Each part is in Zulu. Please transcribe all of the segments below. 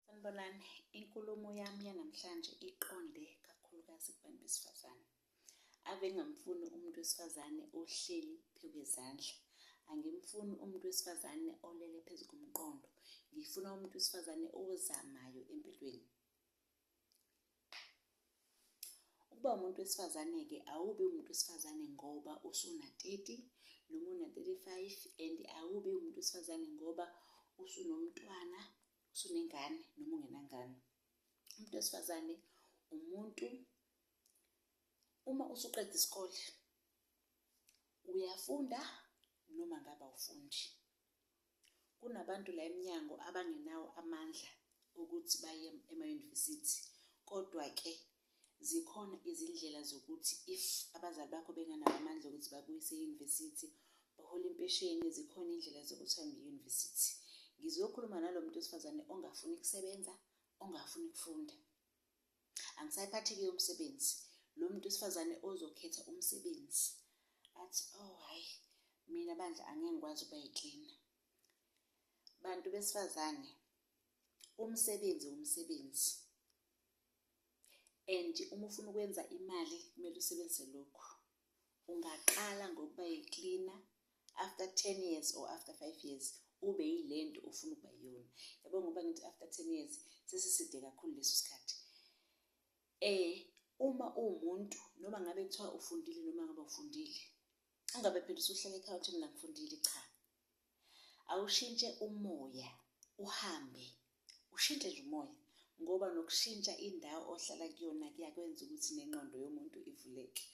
Sanibonani, inkulumo yami yanamhlanje iqonde kakhulukazi kubantu besifazane. Ave ngamfuni umuntu wesifazane ohleli phekwezandla. Angimfuni umuntu wesifazane olele phezu komqondo. Ngifuna umuntu wesifazane ozamayo empilweni. ukuba umuntu wesifazane-ke awubi umuntu wesifazane ngoba usuna-30 noma una-35 and awubi umuntu wesifazane ngoba usunomntwana usunengane noma ungenangane umuntu wesifazane umuntu uma usuqeda isikole uyafunda noma ngabe awufundi Kunabantu la emnyango abangenawo amandla okuthi baye emayunivesithi kodwa-ke zikhona izindlela zokuthi if abazali bakho benganawo amandla okuthi bakuyise eyunivesithi bahola impesheni zikhona indlela zokuthi hambe eyunivesithi ngizokhuluma nalo muntu wesifazane ongafuni kusebenza ongafuni ukufunda angisayiphathi-ke umsebenzi lo muntu wesifazane ozokhetha umsebenzi athi oh hhayi mina bandla angeke ngikwazi ukuba yiklina bantu besifazane umsebenzi umsebenzi and uma ufuna ukwenza imali kumele usebenzise lokhu ungaqala ngokuba yi-cleaner after 10 years or after 5 years ube yile nto ofuna ukuba yiyona yabo ngoba ngithi after 10 years sesiside kakhulu leso sikhathi um uma uwumuntu noma ngabe kuthiwa ufundile noma ngabe ufundile ungabe phela usuhlala ekhaya uthi mina ngifundile cha awushintshe umoya uhambe ushintshe nje umoya ngoba nokushintsha indawo ohlala kuyona kuyakwenza ukuthi nengqondo yomuntu ivuleke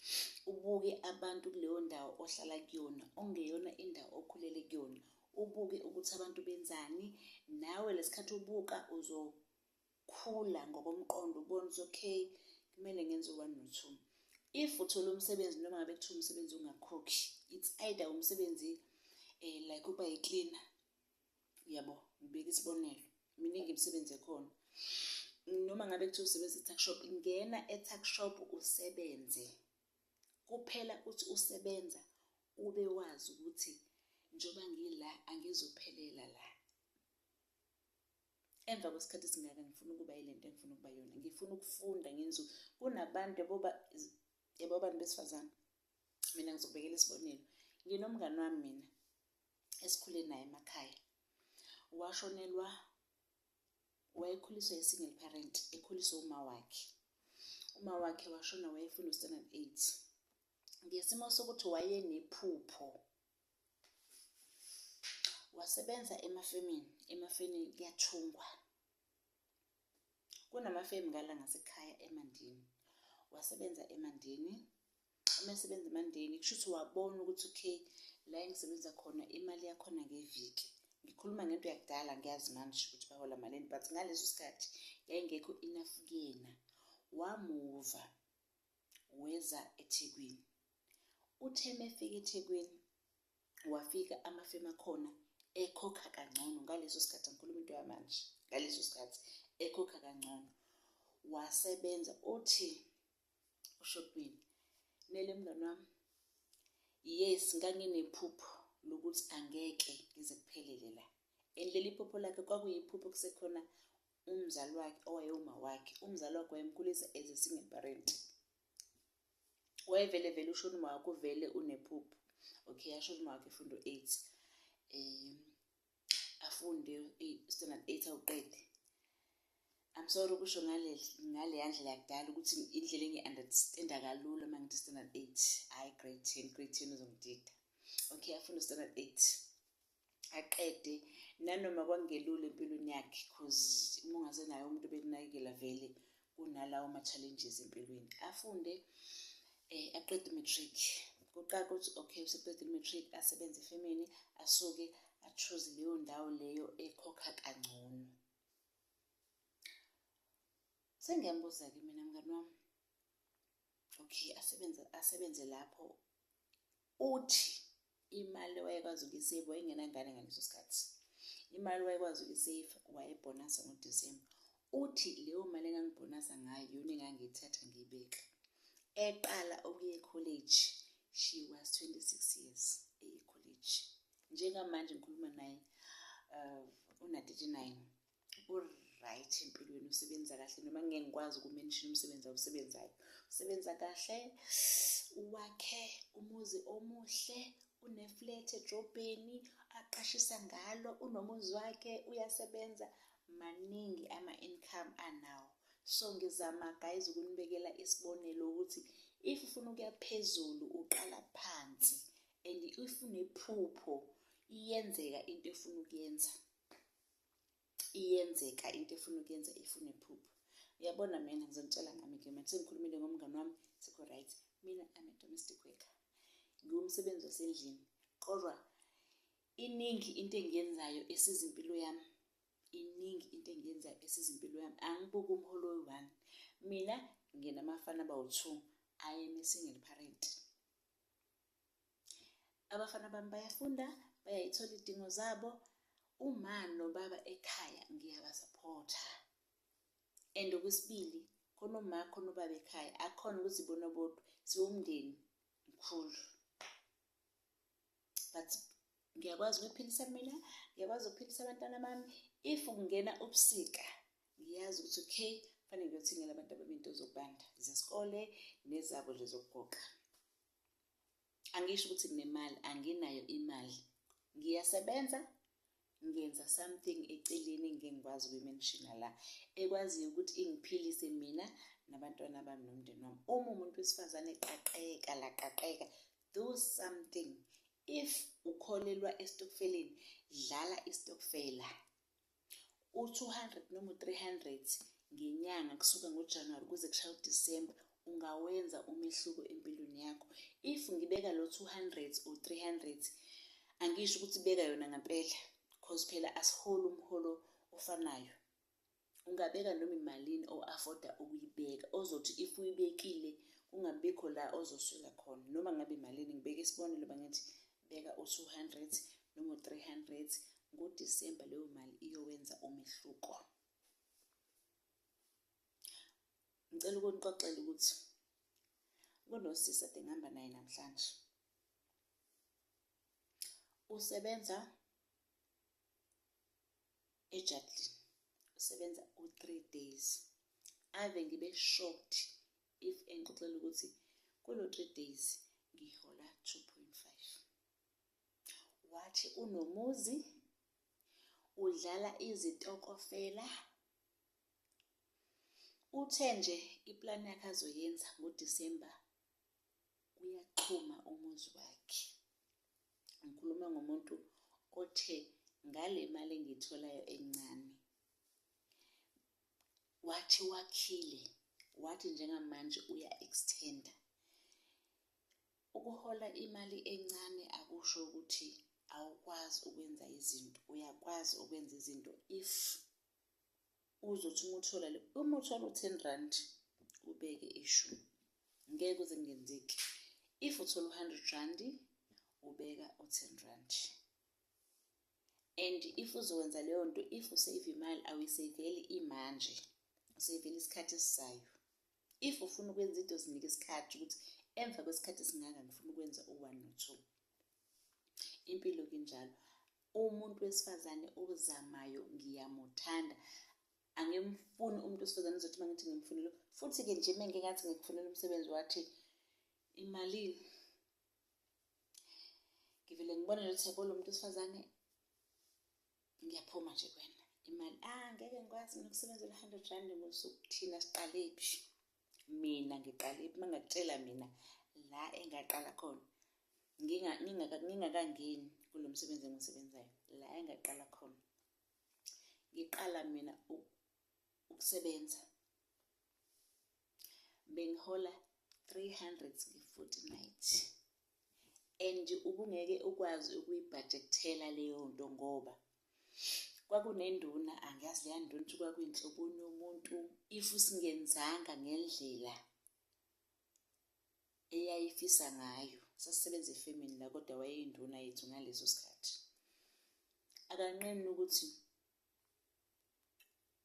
ubuke abantu kuleyo ndawo ohlala kuyona ongeyona indawo okhulele kuyona ubuke ukuthi abantu benzani nawe lesikhathi ubuka uzo khula ngokomqondo ubone ukuthi okay kumele ngenze one no two if uthola umsebenzi noma ngabe kuthiwa umsebenzi ungakhokhi it's either umsebenzi eh like uba yi-cleaner yabo ngibeka isibonelo miningi imisebenzi ekhona noma ngabe kuthiwa usebenza e-tuck shop ngena e-tuck shop usebenze kuphela uthi usebenza ube wazi ukuthi njengoba ngila angizophelela la emva kwesikhathi esingaka ngifuna ukuba yile nto engifuna ukuba yona ngifuna ukufunda ngenzu kunabantu yeboba yebo abantu besifazane mina ngizokubekela isibonelo nginomngane wami mina esikhule naye emakhaya washonelwa wayekhuliswa yi-single parent ekhuliswa uma wakhe uma wakhe washona wayefunda u-standard eight ngesimo sokuthi wayenephupho wasebenza emafemini emafeni kuyathungwa kunamafemu ngala ngasekhaya emandini wasebenza emandini uma esebenza emandini kusho ukuthi wabona ukuthi okay la engisebenza khona imali yakhona ngeviki ngikhuluma ngento yakudala ngiyazi manje ukuthi bahola malini but ngaleso sikhathi yayingekho enough kuyena wamuva weza eThekwini. Uthe mefika eThekwini wafika amafemu akhona ekhokha kangcono ngaleso sikhathi angikhuluma into yamanje ngaleso sikhathi ekhokha kangcono wasebenza uthi ushopini mele mngani wami yes nganginephupho lokuthi angeke ngize kuphelele la and leli phupho lakhe kwakuyiphupho kusekhona umzali wakhe owayewuma wakhe umzali wakhe wayemkhulisa as a single parent wayevele vele ushona uma wakho vele unephupho okay yashona uma wakhe fundo eight um afunde standard eight awuqede I'm sorry ukusho ngale ngaleya ndlela yakudala ukuthi indlela engi-understanda kalula uma ngithi standard eight hhayi grade ten grade ten uzongidida okay afuna standard eight aqede nanoma kwangelula empilweni yakhe cause uma ungasenayo umuntu bekunakekela vele kunalawo ma-challenges empilweni afunde um aqede umatric kuqala ukuthi okay useqede umatric asebenze efemini asuke achuze leyo ndawo leyo ekhokha kangcono sengiyambuza-ke mina mngani wami okay asebenze asebenze lapho uthi imali wayekwazi ukuyisave wayengenangane ngaleso sikhathi imali wayekwazi ukuyisave wayebhonasa ngodisemba uthi leyo mali engangibhonasa ngayo yona engangiyithatha ngiyibeka eqala okuye college she was 26 years eye college njengamanje ngikhuluma naye uh, una-39 uright empilweni usebenza kahle noma ngeke ngikwazi ukumenshina umsebenzi awusebenzayo usebenza kahle wakhe umuzi omuhle uneflat edrobheni aqashisa ngalo unomuzi wakhe uyasebenza maningi ama-income anawo so ngizama guys ukunibekela isibonelo ukuthi if ufuna ukuya phezulu uqala phansi and if unephupho iyenzeka into efuna ukuyenza iyenzeka into efuna ukuyenza ifune phupho uyabona mina ngizonitshela ngami ke manje sengikhulumile ngomngane wami sikho right mina i'm a domestic worker ngiwumsebenzi wasendlini kodwa iningi into engiyenzayo esiza impilo yami iningi into engiyenzayo esiza impilo yami angibuki umholo we-one mina nginamafana abawu-two i am a single parent abafana bami bayafunda bayayithola idingo zabo uma nobaba ekhaya ngiyabasaphotha and okwesibili khona uma khona ubaba ekhaya akhona ukuthi bona bodwa siwumndeni mkhulu but ngiyakwazi ukuphilisa mina ngiyakwazi ukuphilisa abantwana bami if kungena ubusika ngiyazi ukuthi okay fanele ngiyothengela abantu abami into zokubanda zesikole nezabo nje zokugoqa angisho ukuthi nginemali anginayo imali ngiyasebenza ngenza something eceleni ngengikwazi ukuyimenshina la ekwaziyo ukuthi ingiphilise mina nabantwana bami nomndeni wami uma umuntu wesifazane qaqeka laqaqeka do something if ukholelwa esitokfeleni dlala isitokfela u-200 noma u-300 ngenyanga kusuka ngojanuwari kuze kushaya udisemba ungawenza umehluko empilweni yakho if ngibeka lo 200 or 300 angisho ukuthi beka yona ngempela because phela asiholi umholo ofanayo ungabeka noma imalini o-afforda ukuyibeka ozothi if uyibekile kungabikho la ozoswela khona noma ngabe imalini ngibeke isibonelo bangithi beka u-200 noma u-300 ngodisemba leyo mali iyowenza umehluko ngicela ukunixoxela ukuthi kunosisi ade ngihamba naye namhlanje usebenza ejardini usebenza u-three days ave ngibe shocked if engixoxela ukuthi kulo 3 days ngihola 2.5 wathi unomuzi udlala izitokofela uthe nje iplan yakhe azoyenza ngoDisemba uyaxhuma umuzi wakhe ngikhuluma ngomuntu othe ngale mali engiyitholayo encane wathi wakhile wathi njengamanje uya extender ukuhola imali encane akusho ukuthi awukwazi ukwenza izinto uyakwazi ukwenza izinto if uzothi uma uthola le uma uthola u-ten rand ubeke ishumi ngeke uze kungenzeki if uthola u-hundred randi ubeka u-ten randi and if uzokwenza leyo nto if usave imali awuyiseveli imanje useveli isikhathi esizayo if ufuna ukwenza into zinike isikhathi ukuthi emva kwesikhathi esingaka ngifuna ukwenza u-one no-two impilo kunjalo umuntu wesifazane ozamayo ngiyamuthanda angimfuni umuntu wesifazane uzothi uma ngithi ngimfunile futhi-ke nje uma ngike ngathi ngikufunela umsebenzi wathi imalini ngivele ngibone lelo theko lomuntu wesifazane ngiyaphuma nje kwena imali ah ngeke ngikwazi mina ukusebenzela i-hundred rand ngosuku thina siqale phi mina ngiqale phi mangakutshela mina la engaqala khona ngingakangeni kulo msebenzi engisebenzayo la engaqala khona ngiqala mina ukusebenza bengihola 300 nge-fortnight and ubungeke ukwazi ukuyibhajekthela leyo nto ngoba kwakunenduna angiyazi leya nduna ukuthi kwakuyinhloboni yomuntu if singenzanga ngendlela eyayifisa ngayo sasisebenza efemini la kodwa wayeyinduna yethu ngaleso sikhathi akanqeni ukuthi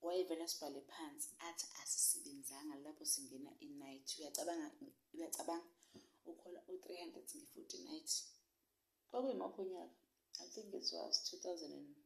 wayevela sibhale phansi athi asisebenzanga lapho singena inight uyacabanga uyacabanga ukhola u-300 nge-40 night kwakuyimaphi unyaka i think it was 2000